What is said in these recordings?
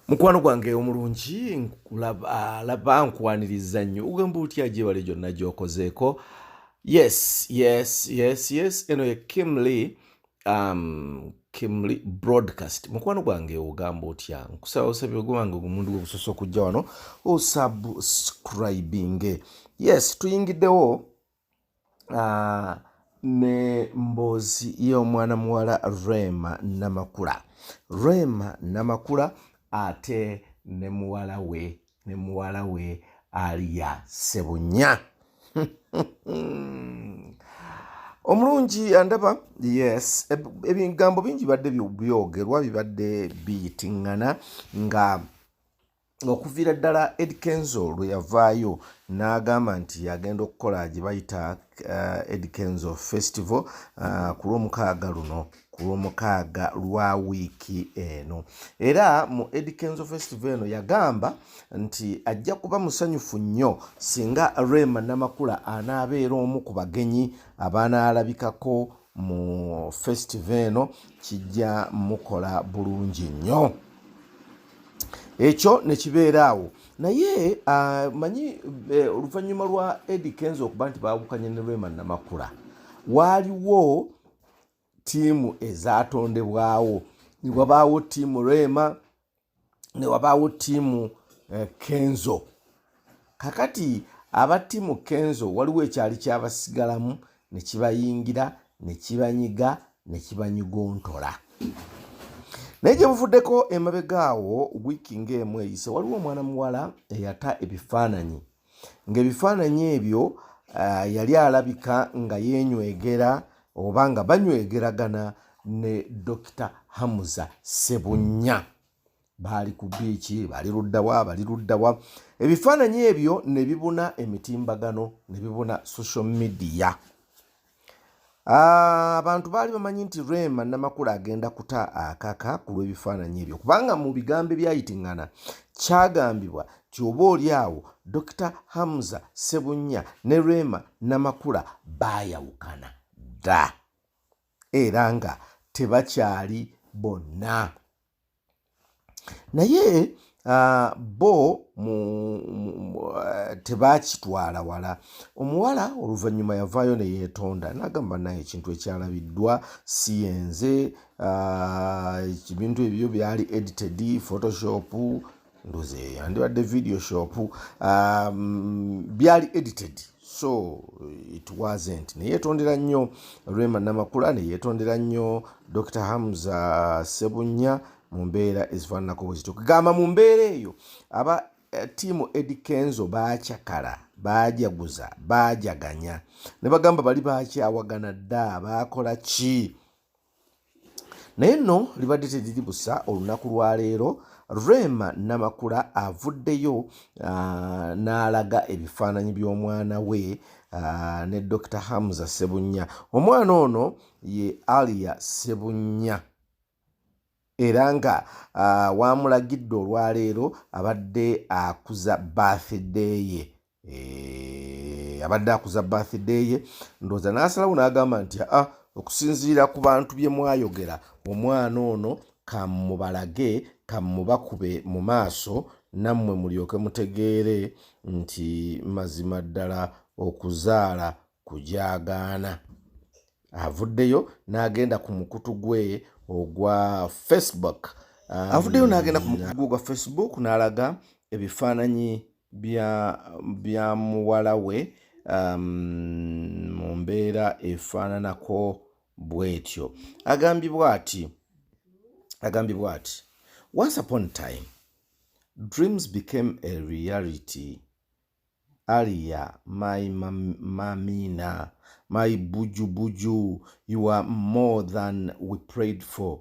mukwano gwange omulungi laba nkwaniriza nnyo ogamba otya gyebale gyonna gyokozeeko yes yes yes yes eno ye kimly um, kimly broadcast mukwano gwange ogamba otya nkusaba osabye ogwange ogumundu gwe gusosa okujja wano osubscribinge yes tuyingiddewo uh, ne mboozi y'omwana muwala rema namakula rema namakula ate ne muwala we ne muwala we aliya sebunya omulungi andaba yes ebigambo bingi bibadde byogerwa bibadde biyitingana nga okuviira ddala ed kenzo lwe yavaayo n'agamba nti agenda okukola gye bayita uh, ed kenzo festival uh, ku lwomukaaga luno ku lwomukaaga lwa wiiki eno era mu ed kenzo festival eno yagamba nti ajja kuba musanyufu nnyo singa rema namakula anaabeera omu ku bagenyi abaanaalabikako mu festival eno kijja mukola bulungi nnyo ekyo nekibeera awo naye uh, manyi eh, oluvannyuma lwa edi kenzo okuba nti bawukanye ne lwema namakula waaliwo tiimu ezatondebwawo newabaawo tiimu lwema newabaawo tiimu eh, kenzo kakati aba tiimu kenzo waliwo ekyali kyabasigalamu ne kibayingira ne kibanyiga ne kibanyugontola naye gye buvuddeko emabega awo wiiki ng'emu eyise waliwo omwana muwala eyata ebifaananyi ng'ebifaananyi ebyo uh, yali alabika nga yenywegera oba nga banywegeragana ne dokita hamuza sebunya baali ku biiki bali luddawa bali luddawa ebifaananyi ebyo ne bibuna emitimbagano ne bibuna social media ah, abantu baali bamanyi nti rema namakula agenda kuta akaka ku lw'ebifaananyi ebyo kubanga mu bigambo ebyayitingana kyagambibwa ti oba oli awo dokita hamza sebunya ne rema namakula baayawukana dda era nga tebakyali bonna naye uh, bo mu, mu, mu, uh, tebakitwala wala omuwala oluvannyuma yavaayo neyetonda nagamba naye ekintu ekyalabiddwa si yenze uh, ebintu ebyo byali edited photoshop ndozi eyo yandibadde video shop um, byali edited so it wasn't neyetondera nnyo rema namakula neyetondera nnyo dr hamza sebunya mu mbeera ezifaananako bwe zityo kugamba mu mbeera eyo aba eh, tiimu edi kenzo baacakala baajaguza baajaganya ne bagamba bali baakyawagana dda baakola ki naye nno libadde teriri busa olunaku lwa leero rema namakula avuddeyo uh, n'alaga ebifaananyi by'omwana we uh, ne dr hamza sebunya omwana ono ye alia sebunya era nga uh, waamulagidde olwaleero abadde akuza bathideye uh, Eh, abadde akuza birthday ye ndowooza n'asalawo n'agamba nti a ah, okusinziira ku bantu bye mwayogera omwana ono kamubalage kamubakube mu maaso nammwe mulyoke mutegeere nti mazima ddala okuzaala kujaagaana avuddeyo n'agenda ku mukutu gwe ogwa facebook avuddeyo n'agenda ku mukutu gwe ogwa facebook n'alaga ebifaananyi bya bya muwala we um, mu mbeera efaananako bw'etyo agambibwa ati agambibwa ati once upon time dreams became a reality alia my mamina my buju buju you are more than we prayed for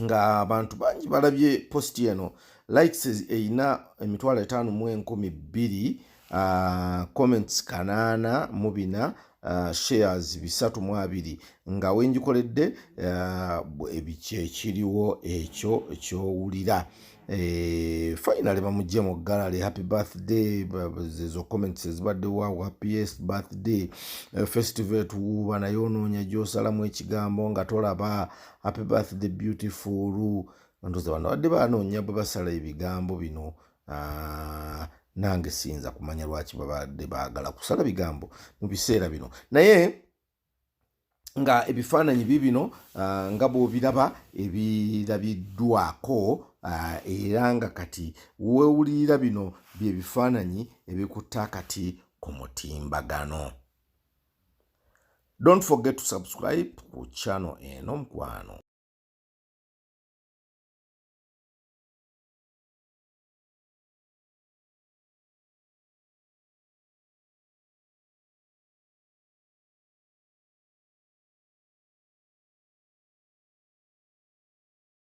ng'abantu bangi balabye positi eno likes erina emitwalo etaano mu enkumi bbiri ah, comments kanaana mu bina Uh, shares bisatu mu abiri nga wengikoledde uh, ebikyekiriwo ekyo ekyowulira eh, finally bamugye mu gallery happy birthday ezo comments ezibadde waw happiest birthday eh, festival tuwuuba naye onoonya gyosalamu ekigambo nga tolaba happy birthday beautiful ndoza bano badde banoonya bwe basala ebigambo bino ah, nange siyinza kumanya lwaki babadde baagala kusala bigambo mu biseera bino naye nga ebifaananyi bibino ah, nga bwobiraba ebirabiddwako ah, era nga kati wewulirira bino byebifaananyi ebikutta kati ku mutimbagano Don't forget to subscribe ku channel eno mkwano.